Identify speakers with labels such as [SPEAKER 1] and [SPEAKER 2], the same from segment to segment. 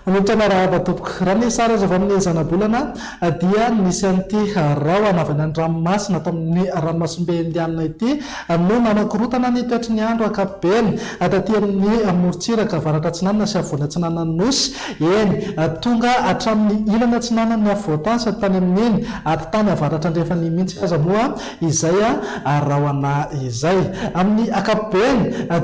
[SPEAKER 1] Manontana rahaba tompoko. Raha ny sary azo avy amin'ny zanabolana dia nisy an'ity rahona avy any an-dranomasina ato amin'ny ranomasimbe indianina ity no nanakorontana ny toetry ny andro ankapobeny taty amin'ny morontsiraka avaratra atsinanana sy afovoany atsinanan'ny nosy Eny, tonga hatramin'ny ilana atsinanan'ny afovoan-tany sady tany amin'ny eny afontany avaratra-andrefany mihitsy aza moa izay rahona izay. Amin'ny ankapobeny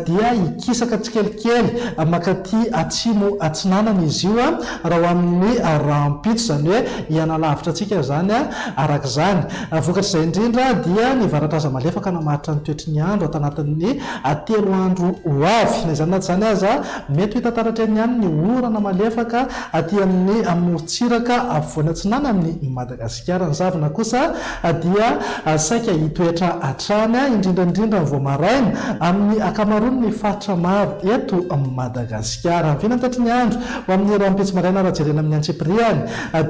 [SPEAKER 1] dia hikisaka tsikelikely mankaty atsimo atsinanana izy io raha ho amin'ny rahampitso, izany hoe hihanalavitra antsika izany araka izany. Vokatr'izay indrindra dia ny varatra aza malefaka namaritra ny toetry ny andro ato anatin'ny telo andro ho avy. Na izany na tsy izany aza, Mety ho hita taratray ihany ny orana malefaka aty amin'ny morontsiraka afovoany atsinanan'i Madagasikara. Ny zavona kosa dia saika hitoetra hatrany, indrindra indrindra vao maraina, amin'ny ankamaroan'ny faritra maro eto Madagasikara. Vina ny tatry ny andro ho amin'ny rahampitso maraina raha jerena amin'ny antsipiriany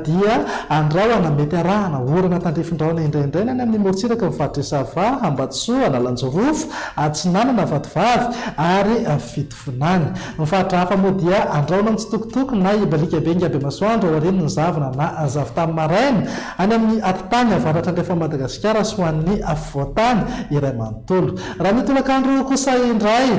[SPEAKER 1] dia andrahona mety harahana orana tandrifin-drahona indraindray ny any amin'ny morontsiraka ny faritr'i Sava, Ambatosoa, Analanjirofo, Atsinanana, Vatovavy ary Fitovinany. Vinany. Ny faritra hafa moa dia andraono mitsitokotoko na hibalika be ingahy Bemasoandro aorian'ny zavona na zavon-tany maraina, any amin'ny atitany avaratra andrefan'i Madagasikara sy ho an'ny afovoan-tany iray manontolo. Raha ny tolakandro kosa indray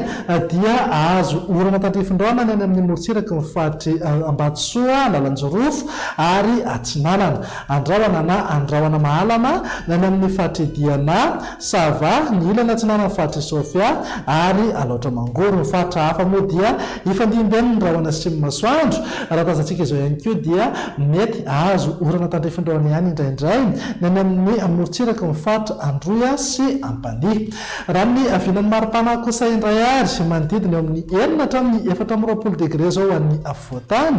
[SPEAKER 1] dia hahazo orana tandrifindraona ny any amin'ny morontsiraky ny faritry Ambatosoa, Analanjirofo ary Atsinanana. Andrahona na andrahona mahalana ny any amin'ny faritry Diana, Ça va, ny ilany atsinanan'ny faritr'i Sofia ary Alaotra Mangoro. Ny faritra hafa moa dia hifandimben'ny rahona atsimon'ny masoandro. Raha tazantsika izao ihany koa dia mety hahazo orana tandrifin'ny rahona ihany indraindray ny any amin'ny morontsiraky ny faritra Androy sy Ampanihy. Raha ny vinan'ny maripana kosa indray ary manodidina eo amin'ny enina hatramin'ny efatra amby roapolo degre izao ho an'ny afovoan-tany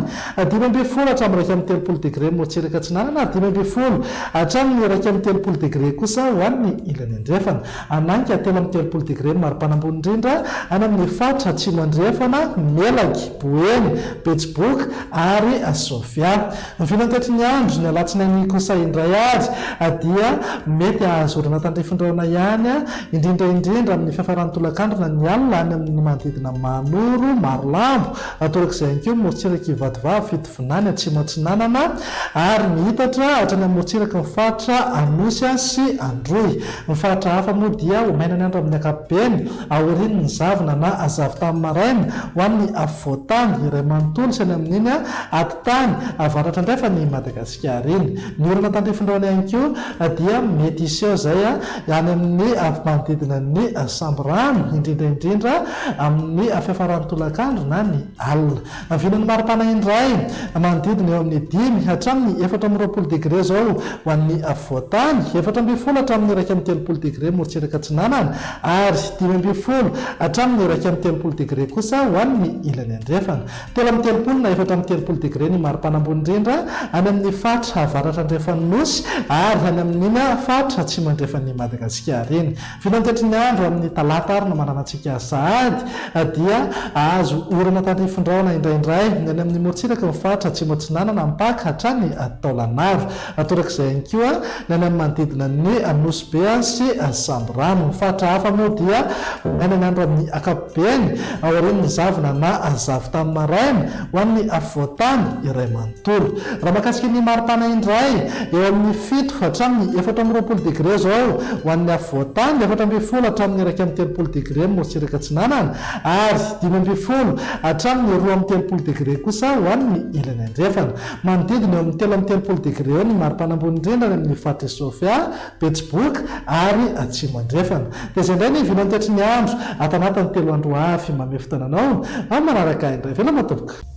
[SPEAKER 1] Dimy ambin'ny folo hatramin'ny iraika amby telopolo degre motseraka atsinanana ary dimy ambin'ny folo hatramin'ny iraika amby telopolo degre kosa ho an'ny ilany andrefana. Hanaiky telo amby telopolo degre ny maripana ambony indrindra any amin'ny faritra atsimo andrefana, Melaky, Boeny, Betsiboka ary Sofia. Vinantatry ny andro, ny alatsinainy kosa indray ary dia mety hahazo orana tandrify rahona ihany, indrindra indrindra amin'ny fiafaran'ny tolakandro na ny alina any amin'ny manodidina Mahanoro, Marolambo, Atorak'izay ihany koa ny morontsirak'i Ivatovavy, Itovinany, Atsimo Atsinanana ary ny Itatra hatrany amin'ny morontsiraky ny faritra Anosy sy Androy. Ny faritra hafa moa dia ho maina ny andro amin'ny ankapobeny aorian'ny zavona na zavotany maraina ho an'ny afovoan-tany iray manontolo sy any amin'iny atitany avaratra indray fa ny Madagasikara iny Ny olona tandrifin'ireo any ihany koa dia mety hiseho izay any amin'ny manodidina ny samborano, indrindra indrindra amin'ny fiafaran'ny tolakandro na ny alina. Vinan'ny mari-pana indray manodidina eo amin'ny dimy hatramin'ny efatra amby roapolo degre izao ho an'ny afovoan-tany, efatra ambin'ny folo hatramin'ny iraika amby telopolo degre morotsirak'I Atsinanana ary dimy ambin'ny folo hatramin'ny iraika amby telopolo degre kosa ho an'ny ilany andrefana. Telo amby telopolo na efatra amby telopolo degre ny maripana ambony indrindra any amin' ny faritra avaratra andrefan' ny Nosy ary any amin' ny faritra atsimo andrefan' i Madagasikara iny. Vinantetry ny andro amin' ny talata ary ny maranan-tsika sahady dia hahazo orana tandrifin-drahona indraindray ny any amin' ny morontsiraka ny faritra atsimo atsinanana, mipaka hatrany Taolagnaro. Torak'izay ihany koa ny any amin'ny manodidina ny Nosy Be sy Samborano. Ny faritra hafa moa dia ho maina ny andro amin'ny ankapobeny aorian'ny zavona na zavy tamin'ny maraina ho an'ny afovoan-tany iray manontolo. Raha mahakasika ny mari-pana indray, eo amin'ny fito hatramin'ny efatra amby roapolo degre izao ho an'ny afovoan-tany, efatra ambin'ny folo hatramin'ny iraika amby telopolo degre ny morotsiraka atsinanana ary dimy ambin'ny folo hatramin'ny roa amby telopolo degre kosa ho an'ny ilany andrefana. Manodidina eo amin'ny telo amby telopolo degre eo ny maripana ambony indrindra any amin'ny faritr'i Sofia, Betsiboka ary Atsimo Andrefana. Dia izay indray ny vina antoetry ny andro, ato anatin'ny telo andro ho avy. Manome fotoana anao amin'ny manaraka indray. Veloma tompoko!